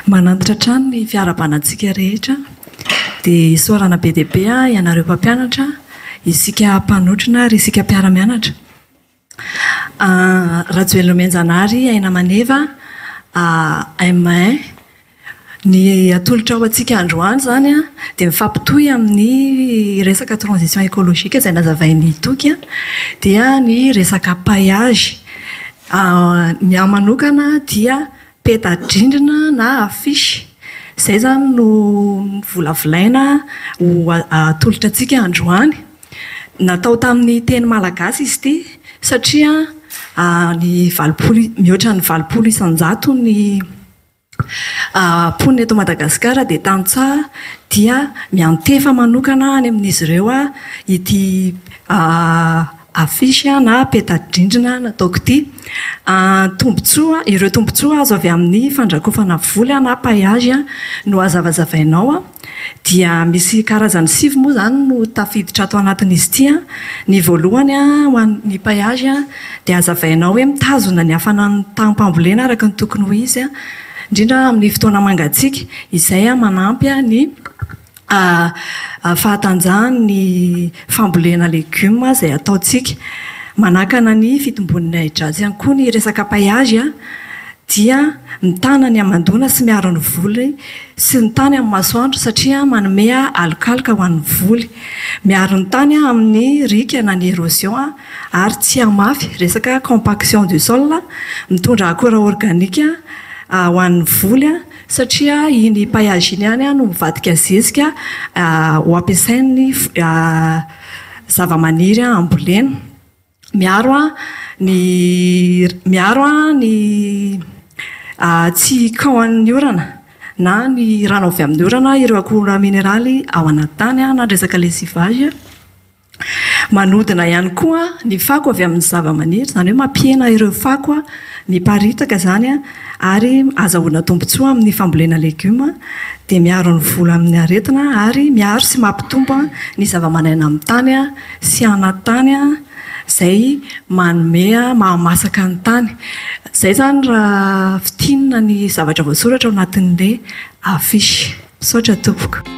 Manantitra hatrany ny fiarabanantsika rehetra. Dia isaorana be dia be ianareo mpampianatra, isika mpanotrona ary isika mpiara-mianatra. Rajoelina Omenjanahary, Aina Maneva, AMN, Ny atolotra ho antsika androany izany dia mifampitohy amin'ny resaka transition écologique izay nazavain'i Toky dia ny resaka paillage. Ny ahy manokana dia peta-drindrina na affiche. Izay izany no novolavolaina ho atolotra antsika androany. Natao tamin'ny teny malagasy izy ity satria ny valopolo, mihoatra ny valopolo isan-jato ny mponina eto Madagasikara dia tantsaha dia miantefa manokana any amin'izy ireo ity affiche na peta-drindrina nataoko ity. Tombontsoa, ireo tombontsoa azo avy amin'ny fandrakofana vola na payage no hazavazavainao. dia misy karazany sivy moa izany no tafiditra ato anatin'izy ity an, ny voalohany an ho an'ny paillage an dia azavainao hoe mitazona ny hafanan'ny taham-pambolena araka ny tokony ho izy an, indrindra amin'ny fotoana mangatsiaka, izay an manampy an ny fahatanjahan'ny fambolena legioma izay ataontsika. Manakana ny fitombon'ny ahi-dratsy ihany koa ny resaka paillage an, dia mitana ny hamandoana sy miaro ny voly sy ny tany amin'ny masoandro satria manome alokaloka ho an'ny voly, miaro ny tany amin'ny riaka na ny erosion ary tsy hamafy, resaka compaction du sol, mitondra akora organika ho an'ny voly satria iny paillage iny ihany no mivadika zezika ho ampiasain'ny zavamaniry hambolena. Miaro an ny miaro an ny tsy kaohan'ny orana na ny rano avy amin'ny orana ireo akora mineraly ao anaty tany na ny resaka lessivage. Manodina ihany koa ny fako avy amin'ny zavamaniry, izany hoe mampihena ireo fako miparitaka izany an, ary azahoana tombontsoa amin'ny fambolena legioma. Dia miaro ny voly amin'ny aretina ary miaro sy mampitombo ny zavamananaina amin'ny tany. sy hanan-tany izay manome mahamasaka ny tany. Izay izany raha fintinina ny zavatra voasoratra ao anatin'ilay affiche. Misaotra tompoko.